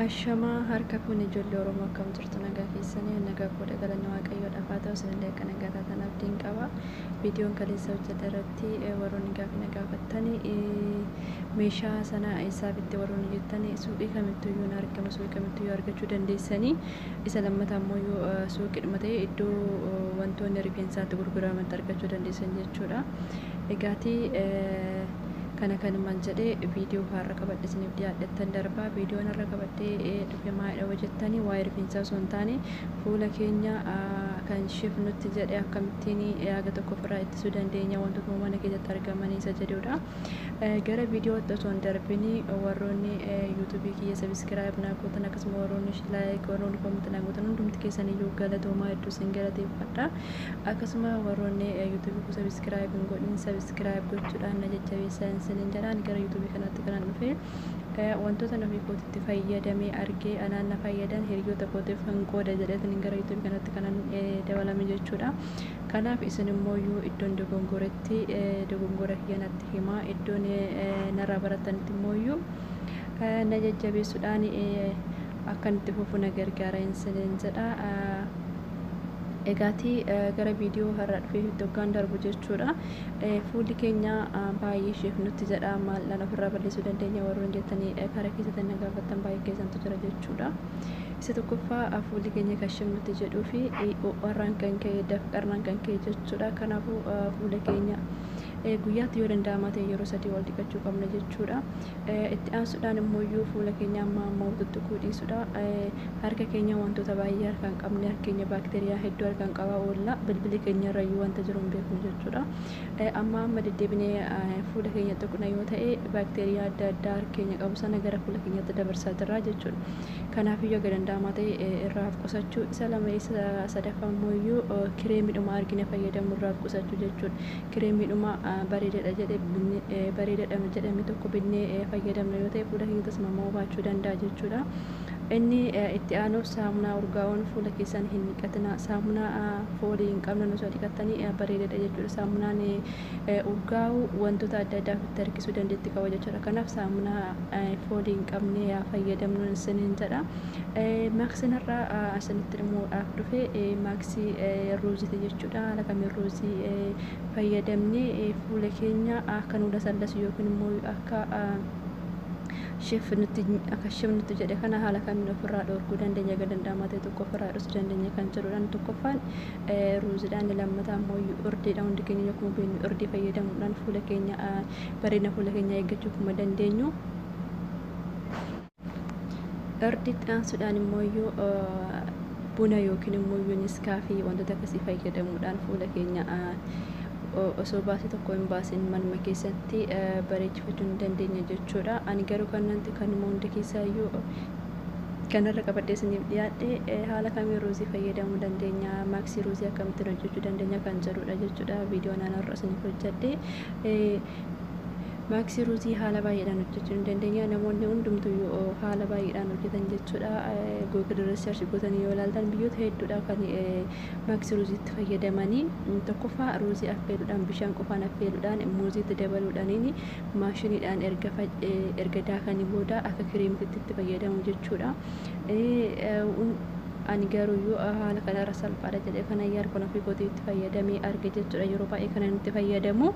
Ashamaa harka fuune ijoollee Oromoo akkam jirtu nagaa keessanii nagaa koodha galanni waaqayyoo dhafaa ta'u isinillee akka nagaa taatan abdiin qaba viidiyoon kaleessa hojjete irratti eh, warroonni gaaffii na gaafattani eh, meeshaa sana eessaa bitte warroonni jettani suuqii kamittuu iyyuu hin argamu suuqii kamittuu iyyuu argachuu dandeessanii isa lammata ammoo iyyuu eh, suuqiidhuma ta'e iddoo eh, wantoonni rifeensaatti gurguramantti argachuu dandeessan jechuudha egaatii eh, kana kanuman jedhee viidiyoo har'a qabadhe isiniif dhiyaadhettan darbaa viidiyoon har'a qabadhee dhufe maayidha hojjettanii waa'ee rifeensaa osoo hin taane fuula keenya kan shif nutti jedhe akkamittiin yaaga tokko ofirraa ittisuu dandeenya wantoota mana keessatti argamanii isa jedhudha. Gara viidiyootti osoo hin darbini warroonni yuutuubii kiyya sabiskiraayib naa gootan akkasuma warroonni laayik warroonni koomitti naa gootan hundumti keessaniyyuu galatoomaa hedduu isin galateeffadha. akkasuma warroonni yuutuubii koo sabiskiraayib hin godhin sabiskiraayib gochuudhaan na jajjabeessaa isiniin jedhaan gara yuutuubii kanaatti kanan dhufe wantoota ofii kootitti fayyadamee argee anaan na fayyadan hiriyoota kootiif hin qooda jedheetiin gara yuutuubii kanatti kanan dabalame jechuudha. Kanaaf isin immoo yoo iddoon dogongoretti dogongora kiyya natti himaa iddoon narraa barattanitti immoo iyyuu na jajjabeessuudhaan akkan itti fufu na gargaara isiniin jedha. Egaati gara viidiyoo har'a dhufee hoggaan darbu jechuudha. Fuulli keenya baay'ee isheef nutti jedha maaldhaan ofirraa balleessuu dandeenya warroon jettanii karaa keessatti na gaafattan baay'ee keessantu jira jechuudha. Isa tokkoffaa fuulli keenya kan isheef nutti jedhuu fi warraan kan ka'e dafqarnaan kan ka'e jechuudha. Kanaafuu fuula keenya guyyaatti yoo danda'amaa ta'e yeroo sadii ol dhiqachuu qabna jechuudha. Itti aansuudhaan immoo fuula keenya amma ammoo tuttuquu dhiisudha. Harka keenya wantoota baay'ee harkaan qabne harka keenya baakteeriyaa hedduu harkaan qabaa oolla. Bilbili keenya irra iyyuu wanta jiru hin beeknu jechuudha. Amma amma deddeebinee fuula keenya tuqna yoo ta'e baakteeriyaa adda addaa harka keenya qabu sana gara fuula keenyatti dabarsaa jirra jechuudha. Kanaaf iyyuu akka danda'amaa ta'e irraa of qusachuu isa lama isa sadaffaa immoo iyyuu kireemidhuma argine fayyadamu irraa of qusachuu jechuudha. kireemiidhuma bareedadha jedhe binne bareedadha jedhame tokko binnee fayyadamna yoo ta'e fuula keenya tasmamoo baachuu danda'a jechuudha. Inni itti aanuuf saamunaa urgaa'oon fuula keessan hin dhiqatina. Saamunaa foolii hin qabnan osoo dhiqattanii bareedadha jechuudha. Saamunaan urgaa'u wantoota adda addaa ofitti harkisuu dandeetti qaba jechuudha. Kanaaf saamunaa foolii hin qabne yaa fayyadamnu isiniin jedha. Maaksiin har'a asinitti himuudhaaf dhufe maaksii ruuziiti jechuudha. Haala kamiin ruuzii fayyadamnee fuula keenya akka nu lasallasu yookiin immoo akka shef nutti akka shef nutti jedhe kana haala kamiin ofirraa dhoorguu dandeenya egaa danda'amaa ta'e tokko ofirraa dhorsu dandeenya kan jedhudhaan tokkoffaan ruuzidha inni lammataa immoo urdiidha hundi keenya akkuma beeknu urdii fayyadamuudhaan fuula keenya bareedina fuula keenyaa eeggachuu akkuma dandeenyu Irditti aansuudhaan immoo iyyuu buna yookiin immoo iyyuu niskaa fi wantoota akkasii fayyadamuudhaan fuula keenya osoo baasii tokko hin baasin manuma keessatti bareechifachuu ni dandeenya jechuudha. Ani garuu kanuma hunda keessaa iyyuu kanarra qabadhee isiniif dhiyaadhe haala kamiin ruuzii fayyadamuu dandeenya maaksii ruuzii akkamittiin hojjechuu dandeenya kan jedhudha jechuudha viidiyoon anarra isiniif hojjedhe. Maaksii ruuzii haala baay'eedhaan hojjechuu ni dandeenya. Namoonni hundumtuu yoo haala baay'eedhaan hojjetan jechuudha. Google research gootanii yoo ilaaltan biyyoota hedduudha kan maaksii ruuziitti fayyadamanii. Tokkoffaa ruuzii affeeluudhaan bishaan qofaan affeeluudhaan muuziitti dabaluudhaaniin maashiniidhaan erga erga daakanii booda akka kiriimtitti itti fayyadamu jechuudha. Ani garuu yoo haala kanarra salphaadha jedhee kana yaal kun ofii kootii itti fayyadamee arge jechuudha. Yeroo baay'ee kanan itti fayyadamu.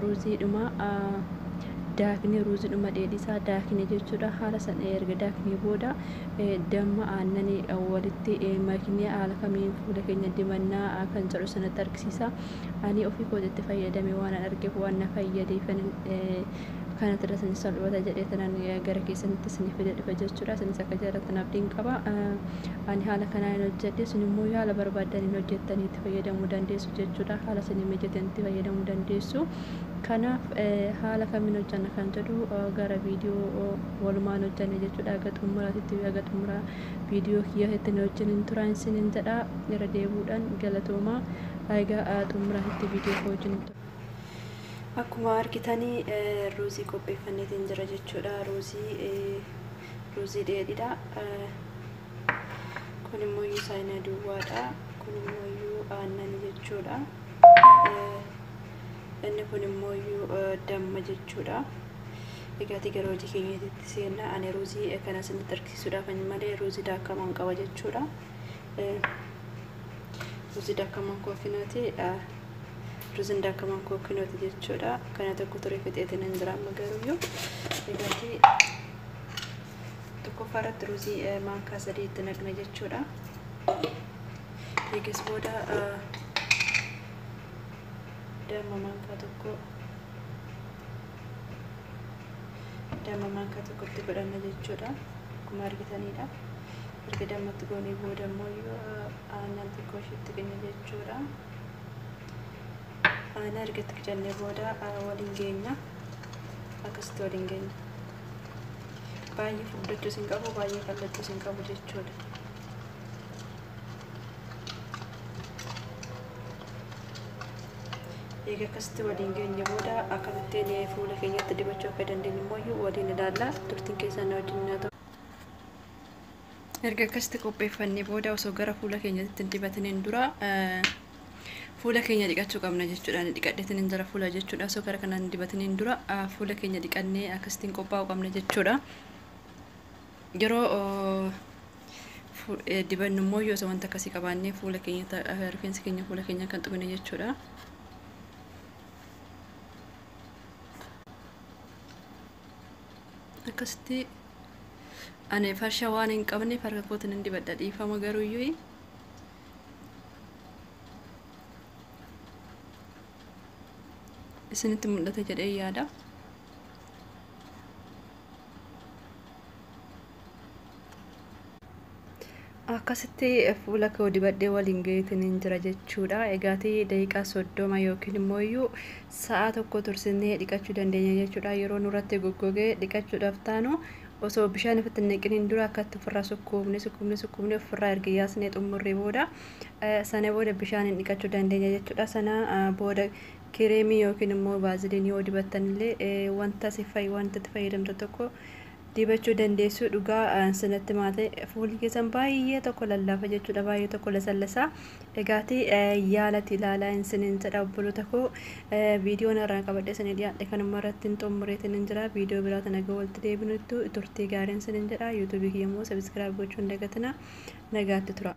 ruuziidhuma daaknee ruuziidhuma dheedhisaa daakne jechuudha haala san erga daaknee booda damma aannanii walitti maknee haala kamiin fuula keenya dibannaa kan jedhu sanatti argisiisa ani ofii kootitti fayyadame waan an argeef waan na fayyadee kanatti irra sanii salphata jedhee tanan gara keessanitti isinii fide dhufe jechuudha isinis akka jaallattan abdiin qaba ani haala kanaan hin hojjedhe isin immoo yaala barbaaddan hin hojjettanii itti fayyadamuu dandeessu jechuudha haala isinii mijateen itti fayyadamuu dandeessu kanaaf haala kamiin hojjanna kan jedhu gara viidiyoo walumaan hojjanne jechuudha haga xumuraatitti haga xumuraa viidiyoo kiyyaatitti na wajjin hin turaa isiniin jedha irra deebuudhaan galatoomaa haga xumuraatitti viidiyoo koo wajjin hin tura. Akkuma argitanii ruuzii qopheeffanneetiin jira jechuudha. Ruuzii ruuzii dheedhiidha. kun immoo iyyuu saayinaa duwwaadha kun immoo iyyuu aannan jechuudha inni kun immoo iyyuu damma jechuudha egaati gara hojii keenyatti seenna ani ruuzii kana isinitti argisiisuudhaaf ani malee ruuzii daakamaan qaba jechuudha ruuzii daakamaan kookinooti ruuziin daakamaan kookinooti jechuudha kana tokko ture fixeetiin hin jira amma garuu iyyuu egaati tokkoffaa irratti ruuzii maankaa sadii itti naqna jechuudha. Eegas booda damma maankaa tokko damma maankaa tokko itti godhanna jechuudha. Akkuma argitanidha. Erga dammatti goonee booda immoo aannan xiqqoo ishiitti qinna jechuudha. Aannan erga itti qicannee booda waliin geenya. Akkasitti waliin geenya. baay'ee furdachuu sin qabu baay'ee qal'achuu sin qabu jechuudha. Eega akkasitti waliin geenye booda akkamittiin fuula keenyatti dibachuu akka dandeenyu immoo waliin ilaalla. Turtiin keessan na wajjin haa ta'u. Erga akkasitti qopheeffannee booda osoo gara fuula keenyatti hin dibatiniin dura fuula keenya dhiqachuu qabna jechuudha. Ani dhiqadheetiin hin jira fuula jechuudha. Osoo gara kanaan hin dibatiniin dura fuula keenya dhiqannee akkasitti hin qophaa'uu qabna jechuudha. Yeroo dibannu immoo yoo osoo wanta akkasii qabaannee fuula keenya rifeensa keenya fuula keenya kan xumine jechuudha. akkasitti ani farsha waan hin qabneef harka kootiin hin dibadha dhiifama garuu iyyuu isinitti mul'ata jedhee yaada. akkasitti fuula koo dibadhee waliin gaheetiin hin jira jechuudha. Egaatii daqiiqaa soddoma yookiin immoo iyyuu sa'a tokko tursinee dhiqachuu dandeenya jechuudha. Yeroo nurratti goggogee dhiqachuudhaaf taanu osoo bishaan ofitti hin naqiniin dura akkatti ofirraa sukkuumne sukkuumne sukkuumne ofirraa erga yaasnee xumurree booda sana booda bishaaniin dhiqachuu dandeenya jechuudha. Sana booda kireemii yookiin immoo baaziliin yoo dibattan illee wanta si fayyadu wanta itti fayyadamtu tokko dibachuu dandeessuu dhugaa sinatti maate fuulli keessan baay'ee tokko lallaafa jechuudha baay'ee tokko lasallasa egaati yaalati ilaalaa hin sinin jedha obboloota koo viidiyoon irraa qabadhe sanii dhiyaadhe kanuma irratti hin xumureetiin hin jira viidiyoo biraa tana ga'u walitti deebinuttu turtii gaariin sinin jedha yuutuubii kiyya immoo sabiskiraayib gochuun dagatina nagaatti tura.